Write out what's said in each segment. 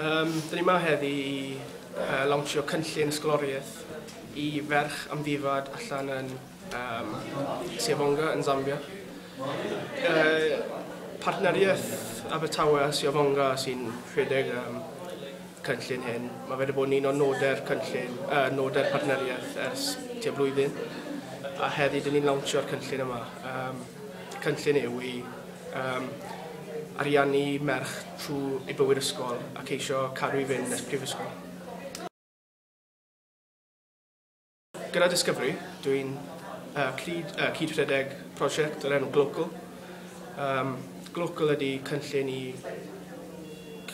Um, dyn ni yma heddi i uh, lawnsio cynllun ysgoloriaeth i ferch amddifad allan yn um, Siavonga yn Zambia. Uh, partneriaeth Abertawe a Siavonga sy'n rhedeg um, cynllun hyn. Mae fe wedi bod yn un o nodau'r cynllun, uh, nodau'r partneriaeth ers tua blwyddyn. A heddi, dyn ni'n lawnsio'r cynllun yma. Um, cynllun yw i um, ariannu merch trwy ei bywyd ysgol ac eisiau cadw i fynd nes prifysgol. Gyda Discovery, dw i'n cyd-rhedeg prosiect o'r enw Glocal. Glocal ydy cynllun i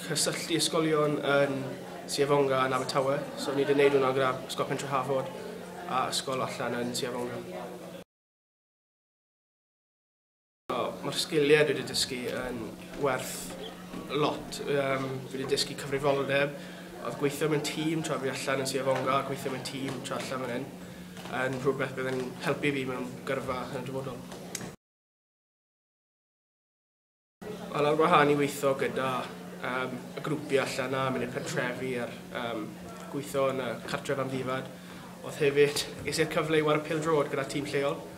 cysylltu ysgolion yn Sir Fônga yn Abertawe. So ni wedi gwneud hwnna gyda Ysgol Pentre Hafod a ysgol allan yn Sir Fônga. Mae'r sgiliau dwi wedi dysgu yn werth lot. Um, fi wedi dysgu cyfrifoldeb, oedd gweithio mewn tîm tra fi allan yn Sir Fonga, gweithio mewn tîm tra allan fan hyn, yn rhywbeth bydd yn helpu fi mewn gyrfa yn y dyfodol. Wel, ar wahân i weithio gyda um, y grwpiau allan a mynd i'r pentrefi a'r um, gweithio yn y cartref amddifad, oedd hefyd, ges i'r cyfle i wario pêl drod gyda tîm lleol,